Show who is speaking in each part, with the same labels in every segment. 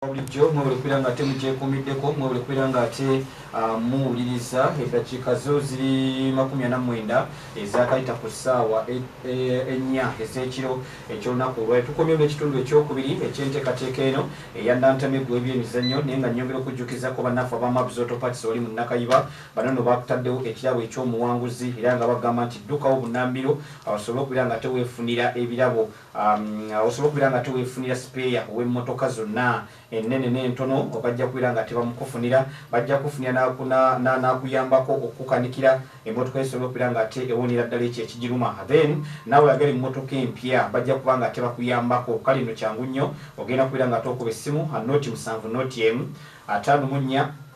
Speaker 1: bulijjo mwebale kubeera nga ate mugyekuumiddeko mwebale kubeera nga ate ah, muwuliriza eddakiika zo ziri makumi ana mwenda ezakayita ku ssaawa e- e- ennya ez'ekiro eky'olunaku olwali tukomyemu n'ekitundu ekyokubiri eky'enteekateeka eno eya nantame gw'ebyemizannyo naye nga nnyongera okujjukizako bannaffe abamabs autopats oli mu nakayiba bano no bataddewo ekirabo eky'omuwanguzi era nga bagamba nti ddukawo bunambiro awasobole okubeera nga teweefunira ebirabo Um, osobola okubeera nga tewefunira sipeeya ow'emmotoka zonna ennene n'entono bajja kubeera nga tebamukufunira bajja kufunira n'akuyambako okukukanikira emmotoka esobola okubeera nga ate ewonera ddala ekyo ekigiruma then naawe yagala emmotoka empya bajja kuba nga tebakuyambako kale no kyangu nnyo ogenda kubeera nga tookuba essimu noti musanvu noti emu ataano mu nnya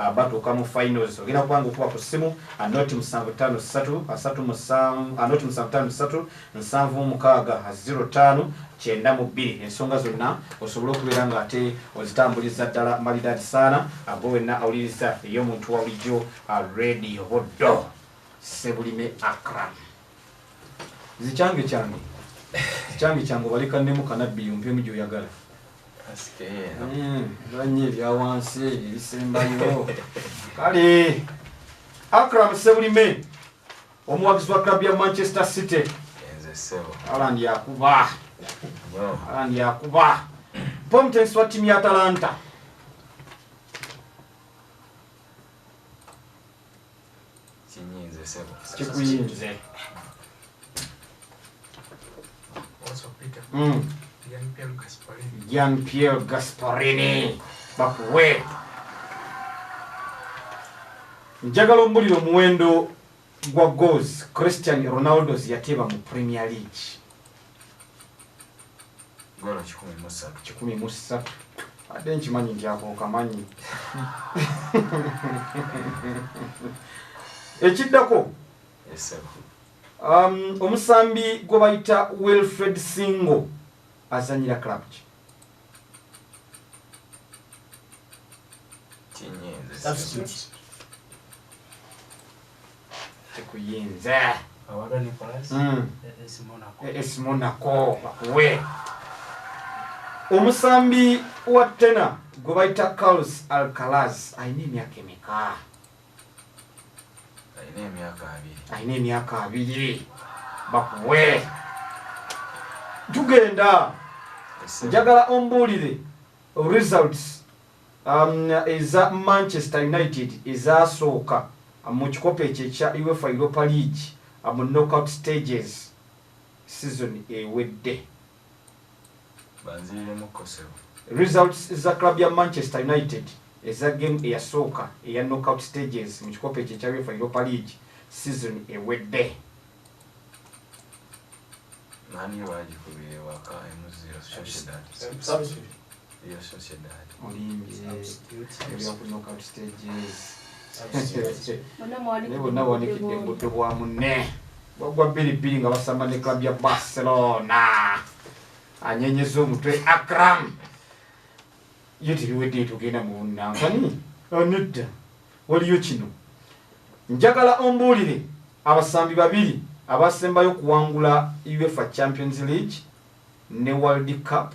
Speaker 1: Ah, batuuka mu finals ogenda kubanga okuba ku ssimu anoti ah, musanvu ttaano ssatu asatu ah, musanvu anoti musanvu ttaano ssatu nsanvu mu mukaaga ziro ttaano kyenda mu bbiri ensonga zonna osobole okubeera nga ate ozitambuliza ddala malidaadi saana ago wenna awuliriza ey'omuntu wa bulijjo rediyo boddo sebulime akram nze kyange kyange kyange kyange obalekannemu kanabbi yompemu gyoyagala nanye hmm, ebyawansi ebisembayo kale akram sebulime omuwagizi wa club ya manchester city alan yakuba alan yakuba pomtensi wa timu ya atalanta Kinyinze sebo. Kikuyinze. Also Peter. Mm. Jean Pierre Gasparini. Jean Pierre Gasparini. Bakuwe. Njagala ombulira omuwendo gwa goals Christian Ronaldo yateeba mu Premier League.
Speaker 2: Goolo kikumi mu ssatu. Kikumi mu
Speaker 1: ssatu. Ate nkimanyi nti ako okamanyi. Ekiddako. Esebo. Um, omusambi gwe bayita Wilfred Singo azanyira club ki? Kinyenze. Substitute. tekuyinza hmm. es monaco bakuwe omusambi wa tena gwe bayita carlos alcalas alina emyaka emeka alina emyaka abiri bakuwe tugenda njagala ombuulire results Eza Manchester United ezaasooka mu kikopo ekyo ekya Uefa Europa League mu knockout stages sizoni ewedde. Results za club ya Manchester United eza game eyasooka eya knockout stages mu kikopo ekyo ekya Uefa Europa League sizoni ewedde.
Speaker 2: Mani bagikubira ewaka emuzira Sociedad. Real Sociedad. Olimbye.
Speaker 1: Ebya ku knockout stages. Naye bonna bawanikidde mbuto bwa munne. Bagwa bbiri bbiri nga basamba ne club ya Barcelona. Anyenyeza omutwe Akram. Ye tiriwedde tugenda mu nankani. Nedda. Waliyo kino. Njagala ombuulire abasambi babiri abasembayo okuwangula UEFA Champions League ne World Cup.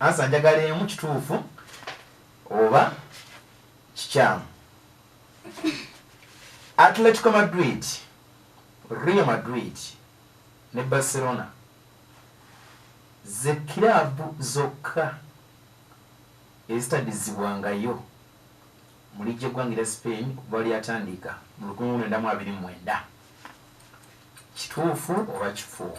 Speaker 3: Answer njagala emu kituufu oba kikyamu. Atletico Madrid, Real Madrid ne Barcelona ze kiraabu zokka ezitadizibwangayo mu liigi y'eggwanga erya Spain okuva lwe lyatandika mu lukumi lwenda mu abiri mu mwenda. Kituufu oba kifu?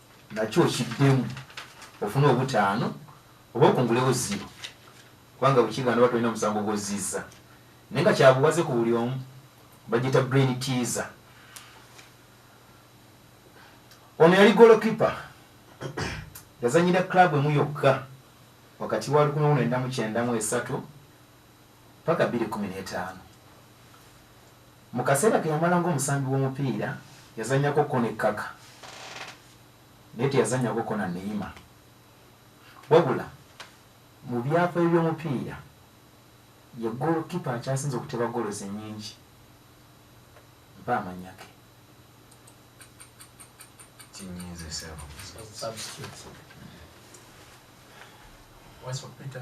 Speaker 3: nakyo okiddemu ofune obutaano oba okungulewo ziro kubanga bwekigaana oba tolina omusango gwozizza naye nga kyabuwaze ku buli omu bagita brain teaser ono yali golokipa yazanyira club emu yokka wakati wa 1993 ppaka bbiri kumi n'etaano. Mu kaseera ke yamala ng'omusambi w'omupiira, yazannyako kko ne Kaka naye teyazannyako kko na Neymar. Wabula mu byafaayo by'omupiira, ye ggoolokipa akyasinze okuteeba ggools ennyingi. Mpa amannya ge.
Speaker 2: Kinyiize ssebo. Substitute.
Speaker 4: Wasswa Peter.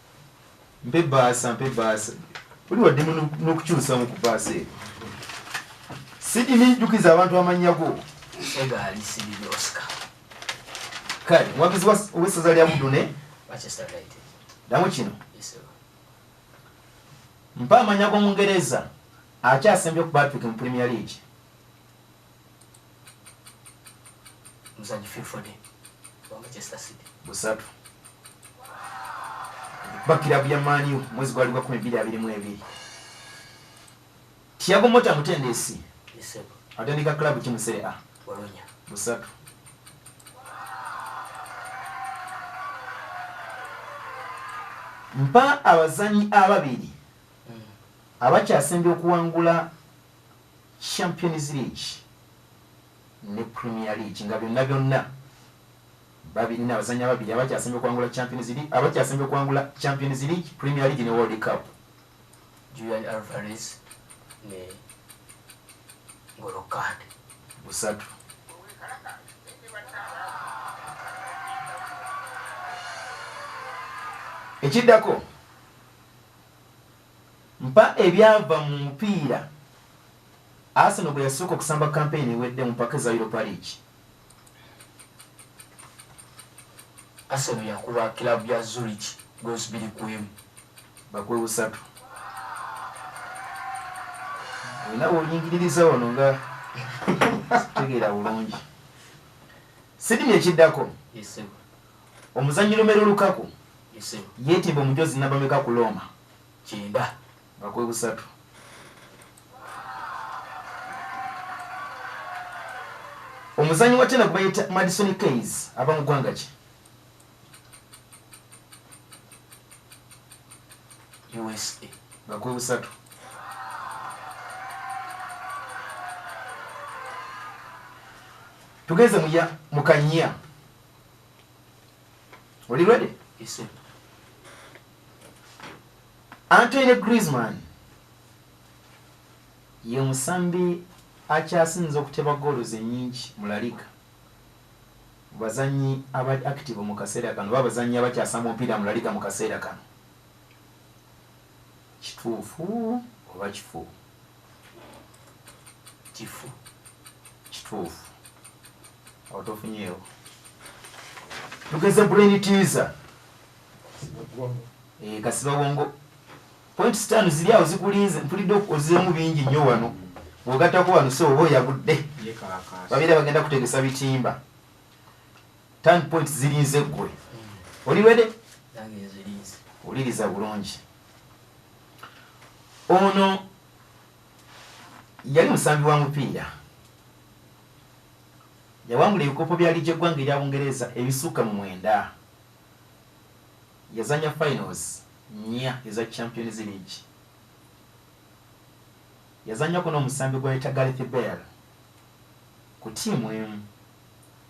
Speaker 3: mpe baasa mpe baasa oli waddemu n'okukyusamu ku baasa eyo sidini jjukiza abantu amannya go egaali
Speaker 4: sidini oscar
Speaker 3: kale muwagizi ow'essaza lya budune
Speaker 4: damu kino mpa
Speaker 3: amannya g'omungereza akyasembye ku patrick mu premier league
Speaker 4: muzanyi filfode wa manchester city busatu
Speaker 3: bakirabu ya maniu mwezi gwali gwakumi biri abiri mu ebiri tiago mota mutendesi
Speaker 4: atendeka club kimusere
Speaker 3: a bolonya
Speaker 4: busatu
Speaker 3: mpa abazanyi ababiri hmm. abakyasembye okuwangula Champions League ne Premier League nga byonna byonna babirina abazannyi ababiri abakyasembye okuwangula Champions League abakyasembye okuwangula Champions League, Premier League ne World Cup. Julian
Speaker 4: Alvarez ne Ngolo Kante. Busatu.
Speaker 3: Ekiddako Mpa ebyava mu mupiira. Arsenal bwe yasooka okusamba kampeyini ewedde mu mpaka eza Europa League.
Speaker 4: Arsenal yakuba kiraabu ya Zurich ggoozi bbiri ku emu. Bakuwe
Speaker 3: busatu. Olina bw'oyingiririza wano nga tegeera bulungi. Sydney ekiddako. Yes, sir.
Speaker 4: Omuzannyi
Speaker 3: Romelu Lukaku yeetimba
Speaker 4: omujoozi nnamba
Speaker 3: meka ku Looma? Kyenda.
Speaker 4: Nga kwe busatu.
Speaker 3: Omuzannyi wa China gwe bayita Madison Keys ava mu ggwanga ki?
Speaker 4: USA. Nga kwe busatu.
Speaker 3: Tugenze mu ya mu Kanya. oli ready yes sir Antoine Griezmann ye musambi akyasinze okuteba goolo zenyingi mu La Liga bazanyi aba active mu kaseera kano babazanyi abakyasamba omupiira mu La Liga mu kaseera kano Kituufu oba kifu?
Speaker 4: Kifu. Kituufu.
Speaker 3: Awo tofunyeewo. Tugeze brain teaser. Eh, kasiba wongo. Point stand zili awo zikulinze mpulidde okozemu bingi nnyo wano. Wogatako wano so obo yagudde. Babira bagenda kutegesa bitimba. tan point zirinze gwe oliwede
Speaker 4: wuliriza bulungi
Speaker 3: ono yali musambi wa mupiira yawangula ebikopo bya ligi eggwanga erya bungereza ebisukka mu mwenda yazanya finals nya eza champions league yazanyako n'omusambi gwa yeta gareth bell ku tiimu emu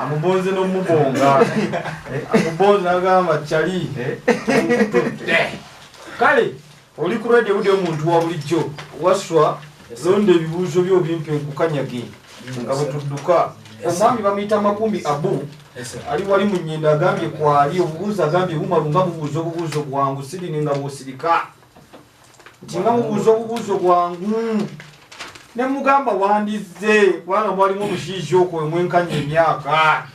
Speaker 1: amubonze nomubonga amubonze nagamba cali kale oli ku radio budde omuntu wa bulijjo waswa londa ebibuuzo byo bimpe nkukanyage nga bwetudduka omwami bamuyita makumbi abu ali wali munyenda agambye kwali obubuuzi agambye bumalunga bubuuza obubuuzo bwangu sirine nga bwosirika nti nga mubuuza obubuuzo bwangu ne mugamba wandizze kubanga mwalimu omushiija okwo omwenkanya emyaka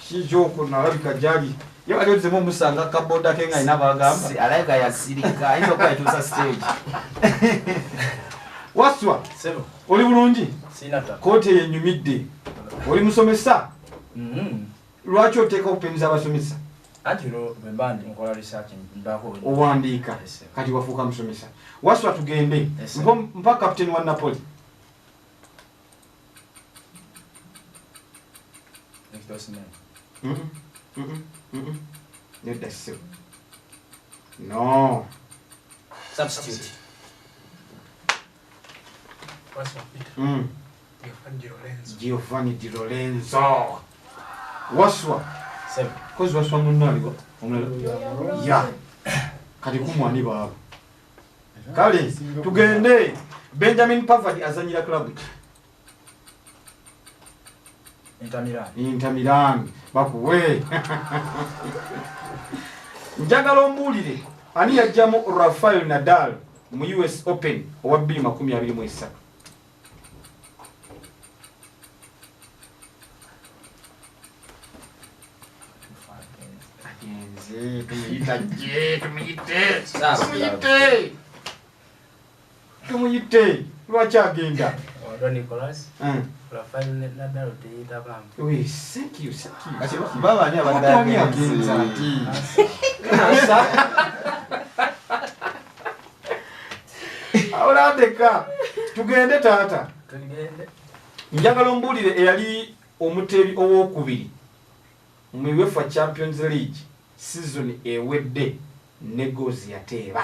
Speaker 1: shiija okwo nalabika gyali ye wali ozemu omusanga kaboda ke nga ina bagambaalaga yasirika
Speaker 3: ayinza okuba yatuusa stage
Speaker 1: waswa oli
Speaker 4: bulungi
Speaker 1: kooti eyo
Speaker 4: enyumidde
Speaker 1: oli musomesa mm-hmm. lwaki oteeka opinion z'abasomesa anti
Speaker 4: bwemba nkola research mbako owandiika
Speaker 1: kati wafuuka musomesa waswa tugende mpa captain wa napoli nedda sebo no substitute
Speaker 5: Mm.
Speaker 1: Giovanni Di Lorenzo. Waswa. Seven.
Speaker 4: Kozi waswa munno
Speaker 1: aliwa? Omulala. Ya. Kati kumwani baaba. Kale tugende Benjamin Pavard azanyira club. intamirani bakuwe njagala ombuulire ani yajjamu rafael nadal mu us open owa 223 tumuyite tumuyite Tumuyitte lwaki agenda? Ondo Nicholas.
Speaker 4: Mm. Rafael Nadal teyita bambi. Oui, thank you,
Speaker 1: thank you. Ati baba ni
Speaker 3: abadani agenza ati.
Speaker 1: Asa. Awula ndeka. Tugende tata. Tugende.
Speaker 4: Njagala
Speaker 1: ombulire eyali omutebi owokubiri mu UEFA Champions League season ewedde ne gozi yateeba.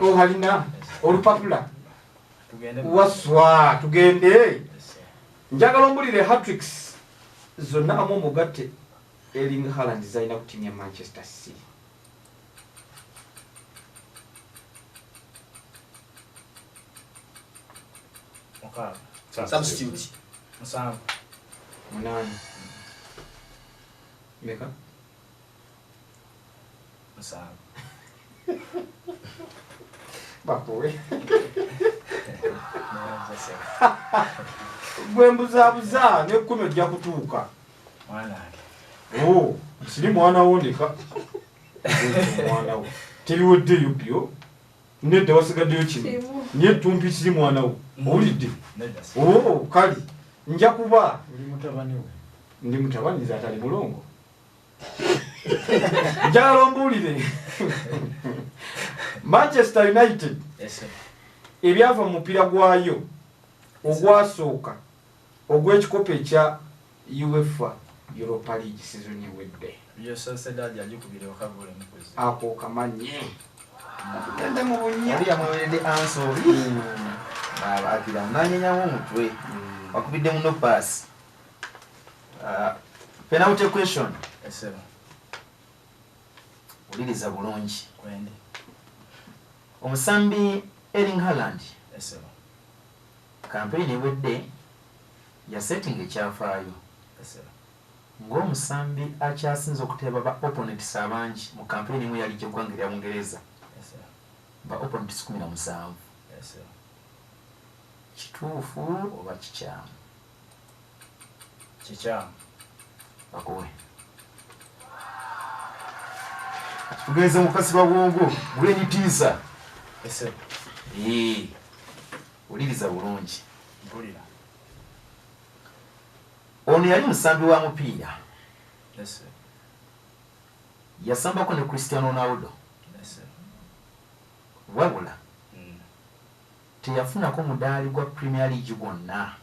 Speaker 1: obalina oh, olupapula waswa tugende njagala ombulire hatricks zonna amu omugatte eling haland zalina ku tiimu ya manchester city munaana meka
Speaker 4: musanvu
Speaker 1: bakuwe gwe mbuzabuza nekumi ojja kutuuka
Speaker 4: oh,
Speaker 1: siri mwana wo ndeka mwana wo teriweddeyo byo nedda wasigaddeyo kimu naye tumpi siri mwana wo mm. owulidde oh, kali nja kuba ndi mutabani nze atali mulongo njagala ombuulire manchester united
Speaker 4: ebyava
Speaker 1: mu mupiira gwayo ogwasooka ogw'ekikopo ekya uefa europa league sizoni ewedde
Speaker 4: ako
Speaker 1: kamanyi genda mu bunyamuwerede
Speaker 3: ansoli hmm. abagira nanyenyamu omutwe hmm. wakubidde muno paasi Ah, penalty question esebo uliriza bulungi kwendi
Speaker 4: omusambi
Speaker 3: Erling Haaland esebo campaign ewedde ya setting ekyafaayo esebo
Speaker 4: ng'omusambi
Speaker 3: akyasinze okuteeba ba opponents abangi mu campaign emu yali gy'eggwanga erya Bungereza esebo
Speaker 4: ba opponents
Speaker 3: kumi na musanvu esebo
Speaker 4: kituufu
Speaker 3: oba kikyamu
Speaker 4: kikyamu akuwe
Speaker 3: tugenze mukasi babwongo gwenitiisa ese wuliriza bulungi mpulira ono yali musambi wa mupiira
Speaker 4: yasambako
Speaker 3: ne christian ronaldo wabula Teyafunako mudaali gwa Premier League gwonna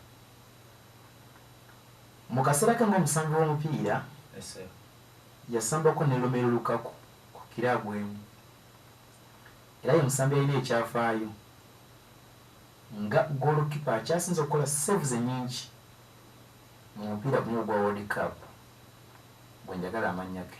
Speaker 3: mu kaseera ke ng'omusambi w'omupiira.
Speaker 4: Yasambako
Speaker 3: ne Romelu Lukaku ku kiraabu emu era ye musambi alina ekyafaayo nga ggoolokipa akyasinze okukola seevu ze nnyingi mu mupiira guno ogwa World Cup gwe njagala amannya ge.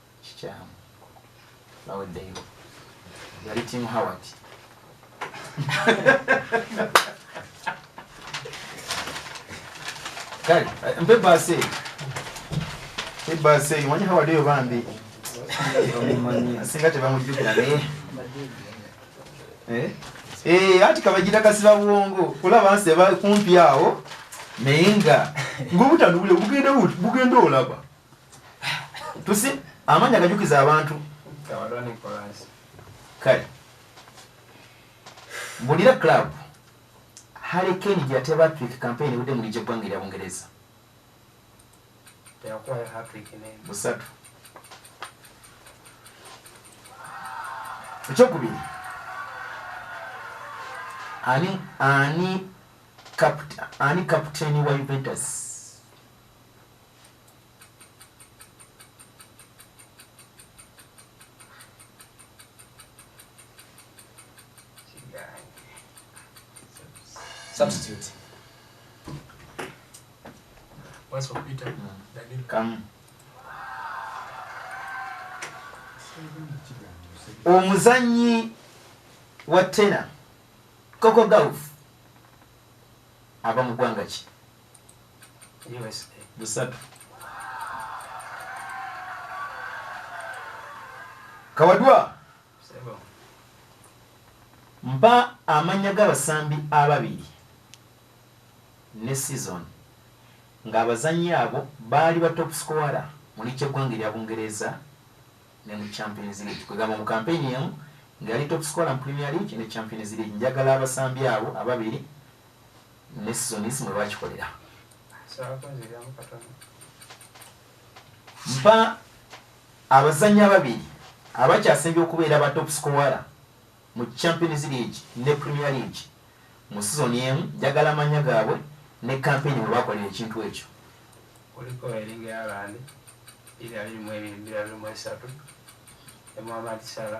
Speaker 3: kikyamu baweddeyo yali timu howard kale mpe baasi eyo mpe baasi eyo manyi howard eyo bambi singa tebamujjukira naye eh? eh, anti kabagira kasiba bwongo kulaba nsi eba kumpi awo naye nga ngobutanubule bugenda olaba tusi amanya gajukiza abantu
Speaker 4: kale
Speaker 3: bulira club harry kane gyate batrik campaign ewudde mulija eggwanga erya bungereza
Speaker 4: busatu
Speaker 3: ekyokubiri ani ani ani kaputeni wa juventus
Speaker 4: Substitute.
Speaker 5: What's for Peter? Daniel. Come.
Speaker 3: omuzanyi wa tena koko golf ava mu ggwanga ki
Speaker 4: busatu
Speaker 3: kawadwa mpa amanya g'abasambi ababiri ne season ng'abazanyi abo baali ba top scoara mu liiki eggwanga erya bungereza ne mu champions league kwegamba mu kampeyini emu ng'ali top scoara mu premier league ne champions league njagala abasambi abo ababiri ne seasons mwe bakikolera mpa abazannyi ababiri abakyasembye okubeera ba top scoara mu champions league ne premier league mu sizoni emu njagala amanya gaabwe ne kampeni mwe bakolera ekintu ekyo kuliko
Speaker 4: eringa yabandi iri abiri mu ebiri mbiri abiri mu esatu emwamatisala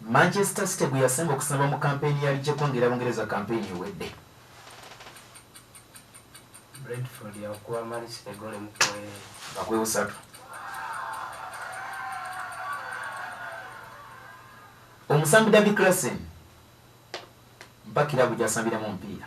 Speaker 3: Manchester City gwe yasinga okusamba mu kampeyini ya ligi ekwangera Bungereza kampeyini ewedde.
Speaker 4: Brentford yakuba Man City eggoolo emu ku emu. Nga kwebusatu.
Speaker 3: Omusambi David Klassen mpa kiraabu gy'asambiramu omupiira.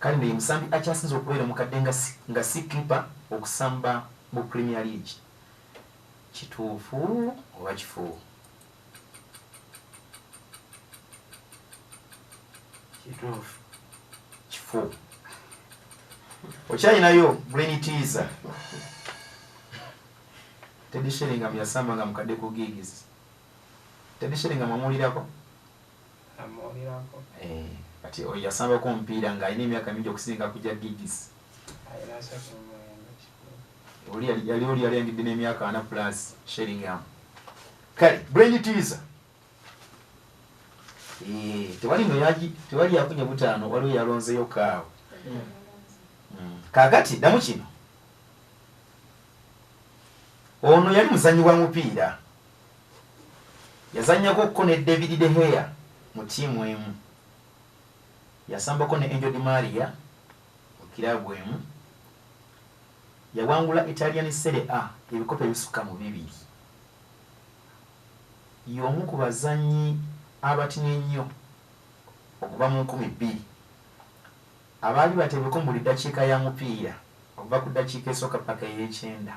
Speaker 3: Kale no ye musambi akyasinze okubeera omukadde nga si nga si clipper okusamba mu premier league kituufu oba kifu? Kituufu.
Speaker 4: Kifu.
Speaker 3: Okyalinayo green teaser. Teddy Sheringham yasamba nga mukadde ku gigs. Teddy Sheringham amulirako.
Speaker 4: Eh,
Speaker 3: kati oyo yasambako omupiira ng'alina emyaka mingi okusinga ku gya gigis oli yali oli yali yangidde n'emyaka ana plus sheringam kale brain teaser eh, tewali no yagi tewali yafunye butaano waliwo yalonzeyo kaawo hmm. kakati damu kino ono yali muzanyi wa mupiira Yazannyako kko ne David de Gea mu ttiimu emu. Yasambako ne Angel Di Maria mu kiraabu emu. Yawangula Italian Serie A ebikopo ebisukka mu bibiri. Y'omu ku bazannyi abatini ennyo okuva mu nkumi bbiri abaali bateebweko mu buli ddakiika ya mupiira okuva ku ddakiika esooka paka ey'ekyenda.